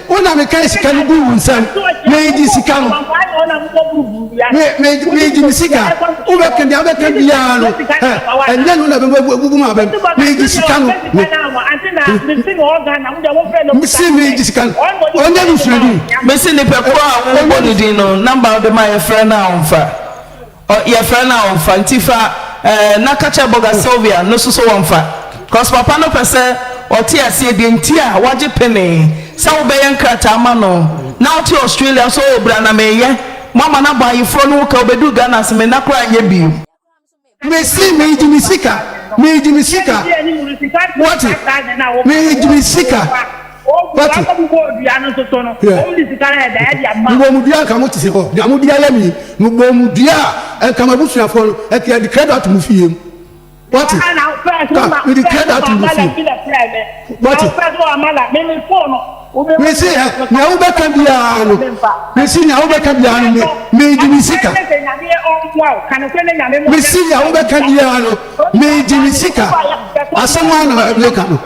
Wo na mekae sika no guu wo nsam. Megye sika no. Me, me, megye me sika. Wobɛka deɛ wobɛka biara no, ɛ, ɛnyɛ no na bɛbubu mu abam. Megye sika no. Me, mese megye sika no. Ɔnyɛ no suadini. Mese nipakuo a wobɔ no din no, namba a wode ma yɛfrɛ no a ɔmfa. Ɔ yɛfrɛ no a ɔmfa nti fa ɛ na ka kyerɛ bɔga Sylvia no nso sɛ wɔmfa cos papa no pɛ sɛ ɔte aseɛ deɛ nti a wagye penee sɛ wobɛyɛ nkrataa ama no na wote Australia nso oo bra na meyɛ moama no abɔ ayeforɔ no ho ka wobɛduru Ghana se me nna koraa nyɛ bio. Mese meegye me sika, meegye me sika, woate, meegye me sika. Pati. Mobɔmudua nka mo te se hɔ nea mode ayɛ me mobɔmudua a nka m'abusuafoɔ no nka yɛde credit mo fie mu wate ka mede credit mo fie wate mese ɛ nea wobɛka biara no mese nea wobɛka biara no me mede me sika mese nea wobɛka biara no mede me sika asɛm a na meka no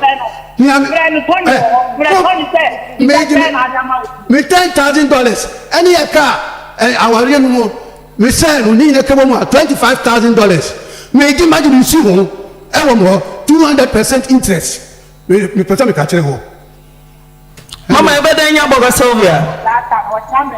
Frɛ no Tony wɔ hɔ. Frɛ Tony sɛ sika sɛn na ade ama wo. Me ten thousand dollars ɛne yɛ kaa ɛɛ awareɛ no mu me sɛɛ no ne nyina kɛ bɔmu a twenty five thousand dollars me gye magye me nsi ho ɛwɔ me hɔ two hundred percent interest me me pɛ sɛ me ka kyerɛ hɔ. Mama ɛbɛ dɛn nya bɔga Sylvia. Saa ka no ɔkya me.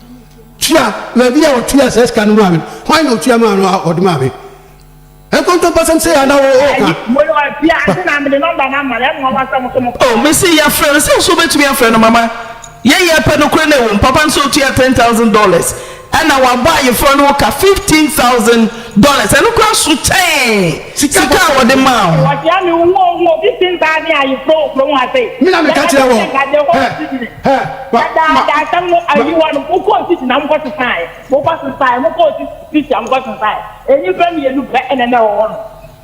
tua na bi a ɔtua saa sika no maa me no hwan na ɔtua maa no a ɔde maa me nkontompɔsɛm sɛ ana wo ɔka o mese yɛfrɛ no sɛ nso wobɛtumi afrɛ no mama yɛyɛ pɛ no koro no ɛwom papa no sɛ ɔtua 10000 dollars ɛna wabɔ ayeforɔ no ho ka 15000 Dollars, ɛno koraa so kyɛn sika a wɔde maa wo. Wɔhyia me wo ho ho obi sin baa ne ayeforo wɔ kurom ha sei. Me na me ka kyerɛ wɔn. Yɛka kyerɛ wɔn sɛ nka Yehowa si gyinae. Na daa daa asɛm no ayi hɔ no, mokɔɔ si gyinae, mokɔ sesaeɛ, mokɔ sesaeɛ, mokɔɔ si si gyinae, mokɔ sesaeɛ. Nnipa mmienu pɛ na na ɛwɔ hɔ nom.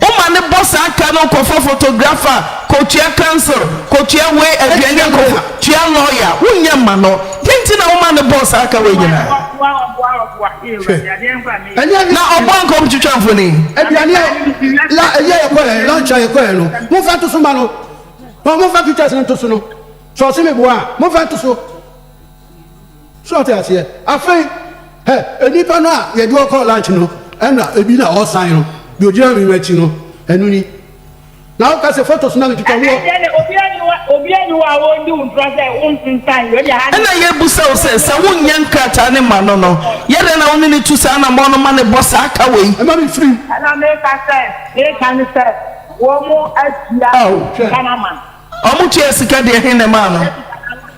Woma no bɔ saa ka no kɔfa photographer, kɔtua council, kɔtua wei aduane a kɔ tua lawyer, wonyɛ mma no, dɛn nti na woma no bɔɔ saa ka wei nyinaa? Hwɛ, ɛnyɛ hwee. Na ɔboa nka ɔntwitwa mfoni? Aduane a la ɛyi a yɛkɔɛ, lunch a yɛkɔɛ no, momfa nto so mma no. Momfa pictures no nto so no. Sɛ ɔse meboa a, momfa nto so. So ɔte aseɛ? Afei hɛ nnipa no a yɛde wɔn kɔɔ lunch no, ɛna ebi na ɔresan no, deɛ ɔgyina me no akyi no, ɛno ni. Na woka sɛ photos na metwitwa woɔ. Ɛnɛ deɛ obiara nni hɔ, obiara nni hɔ a ɔredi wo ntorɔ sɛ wonsensan wei deɛ ha. Ɛna yɛrebisa wo sɛ, sɛ wonyɛ nkrataa no mma no no, yɛ dɛn na wo ne no tu saa anammɔn no ma no bɔ saa ka wei? Ɛma me firi. Ɛna meka sɛ, meka ne sɛ wɔatua sika no ama no. Wɔtua sika deɛ, he na ɛmaa no?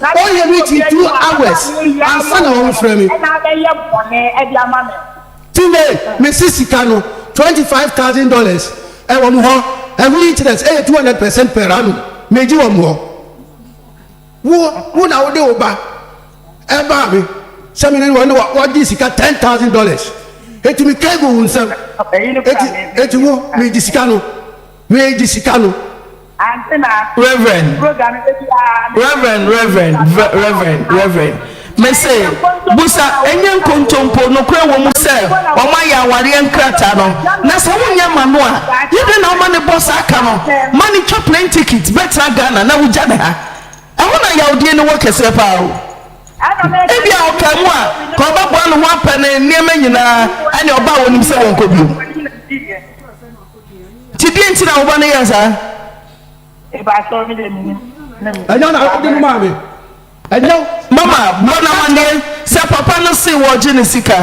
Na sɛ Ɔyɛ me ti two hours ansa na ɔrefrɛ me. ɛna abɛyɛ bɔne de ama me. Tine, mese sika no twenty five thousand dollars ɛwɔ mo hɔ, ɛho interest ɛyɛ two hundred percent per annum, megye wɔ mo hɔ. Wo, wo na wode wo ba ɛbaa me sɛ me ne no wɔ, ɛna wagye sika ten thousand dollars, enti mekae guu wo nsam, enti, enti wo, megye sika no. Wei gye sika no. Ante na. Reverend. Program no bɛbi aa na. Reverend Reverend Reverend Reverend mese busa ɛnyɛ nkontompo nokorɛ wɔ mu sɛ wɔn ayɛ awareɛ nkrataa no na sɛ wonyɛ ma no a yɛ dɛ na woma ne bɔ saa ka no ma ne twa plane ticket bɛtena Ghana na wogya ne ha ɛho na yawdie no wɔ kɛseɛ paa o. Ebi a ɔka mu a ka ɔbɛboa ne ho apɛ ne nneɛma nyinaa ɛne ɔba a wɔnim sɛ wɔnkɔ biom. Ti deɛ nti na wo ba no yɛ saa? Ebaatɔ mi de mi nim ne mi. Ɛnyɛ na ɔde no maa mi. Ɛnyɛ. Mama bɔ no amaneɛ sɛ papa no see wɔregye ne sika.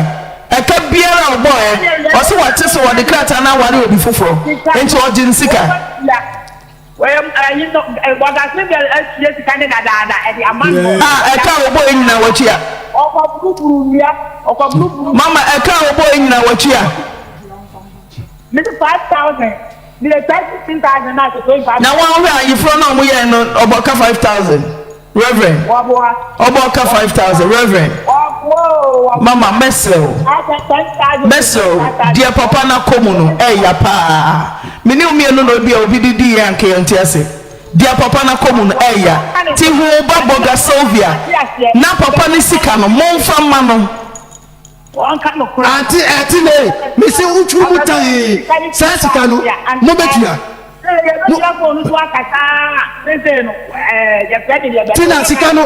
Ɛka biara a ɔbɔeɛ, ɔse wate sɛ wɔde krataa no aware obi foforɔ, enti ɔgye ne sika. A ɛka a ɔbɔeɛ nyinaa watua. Mama ɛka a ɔbɔeɛ nyinaa watua. Me de five thousand. Me de try sixteen thousand na ase twenty five. Na wɔn hwɛ ayeforo na wɔn yɛɛ no ɔbɔ ka five thousand reverend. Wɔboa. Ɔbɔ ka five thousand reverend. Wɔboa oo wɔboa. Mama mɛsrɛ wo. Asa ten thousand. Mɛsrɛ wo deɛ papa na kɔ mu no ɛya paa me ne wo mienu na obi a obi de di yɛ anka yɛn nte ase deɛ papa na kɔ mu no ɛya ti hu ba bɔ ga Sylvia na papa ne sika no mo nfa ma no. Ante ɛte nei, mese wotwiri mu tann, saa sika no mobɛtua. Tina, sika no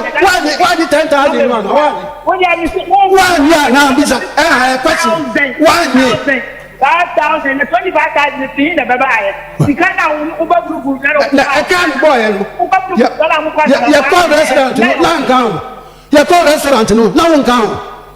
woanye ten thousand no ana, woanye? Woanye a na bisa ɛha ɛ question, woanye? Na ɛka no bɔɔyɛ no, yɛkɔ restaurant no na nka ho, yɛkɔ restaurant no na wonka ho.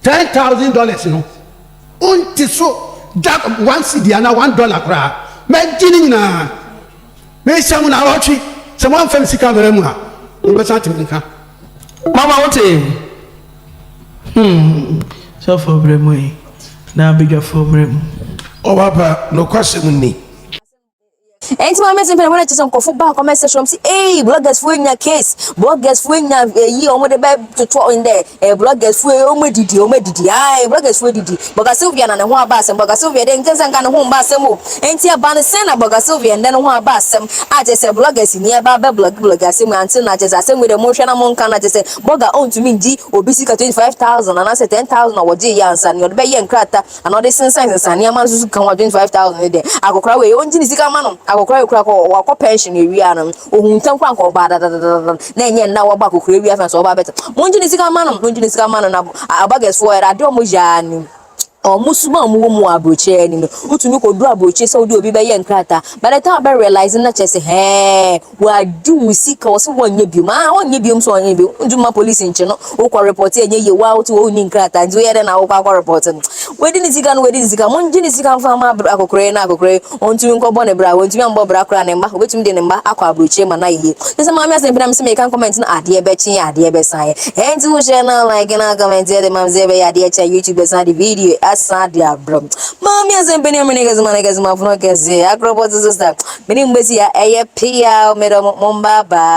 Ten thousand dollars no wonte so da one cedi anaa one dollar koraa mɛgye ne nyinaa mehyɛ mo naawɔtwe sɛ moamfa me sika ammara mu a mobɛsan ate me nka. Mama wote? Hmm sɔfoɔ berɛ mu ei na badwafoɔ mmerɛ mu. Ɔwɔ aba nokwasɛm ni. Enti ma me mpɛn wɔn sɛ nkɔfo ba kɔmɛ sɛ sɔm si ee bloggers fo nya case bloggers fo nya eyi wɔn de bɛ toto ɔn dɛ ee bloggers fo ee wɔn didi wɔn didi ae bloggers fo didi bɔga Sylvia na ne ho aba asɛm bɔga Sylvia de nkyɛn sɛ nka ne ho mba asɛm o enti ɛba ne sɛn na bɔga Sylvia ndɛ ne ho aba asɛm a kyɛ sɛ bloggers ni ɛba bɛ blog blog asɛm ante na kyɛ sɛ asɛm de mo hwɛ na mo nka na kyɛ sɛ bɔga ɔntumi ngyi obi sika twenty five thousand anaasɛ ten thousand a wɔgye yɛ ansa ne ɔde bɛ yɛ nkrata Ana ɔde sensan sensan nneɛma nso so ka ho a twenty five thousand ne deɛ akɔkora wei ɔngye ne sika ma no akɔkora wei kora kɔ wakɔ pension no ewie ano ohun ntɛm kora nka ɔbaa dadadadada na ɛnyɛ nna waba akɔkora ewie afɛn so ɔbaa bɛtɛ mongye ne sika ma no mongye ne sika ma no na abagɛsfoɔ ɛrɛ ade ɔmo yɛ ara nim ɔmo suma ɔmo wɔ mu wɔ aburokyire anim no wotumi kɔ duro aburokyire sɛ wode obi bɛyɛ nkrataa by the time abɛ realize na kyerɛ sɛ hɛɛ Wadu wo sika ɔse wɔnyɛ biom aa ɔnyɛ biom sɛ ɔnyɛ biom wontu ma police nkye no wokɔ report ɛnyɛ yie woaa wote hɔ wonni nkrataa nti woyɛ dɛn na wokɔ akɔ report no wadi ne sika no wadi ne sika mongye ne sika mfa ma akokorɔyi na akokorɔyi ɔntumi nkɔbɔ ne bra wantumi ammɔ bra koraa ne mma obɛtumi de ne mma akɔ abrokyire ma no ayɛ yie kyɛ sɛ maame asɛmpi na mese meka comment no adeɛ bɛkye adeɛ bɛsan yɛ ɛnti wo share na like na comment ɛde mam sɛ ɛbɛyɛ adeɛ kyɛ YouTube bɛsan de video asan de abrɛ maame asɛmpi ne mene kɛse ma ne kɛse ma fono kɛse akorɔpɔte sister Me ne mbedzi a ɛyɛ peaw. Medɔ mo, mo mbaabaa.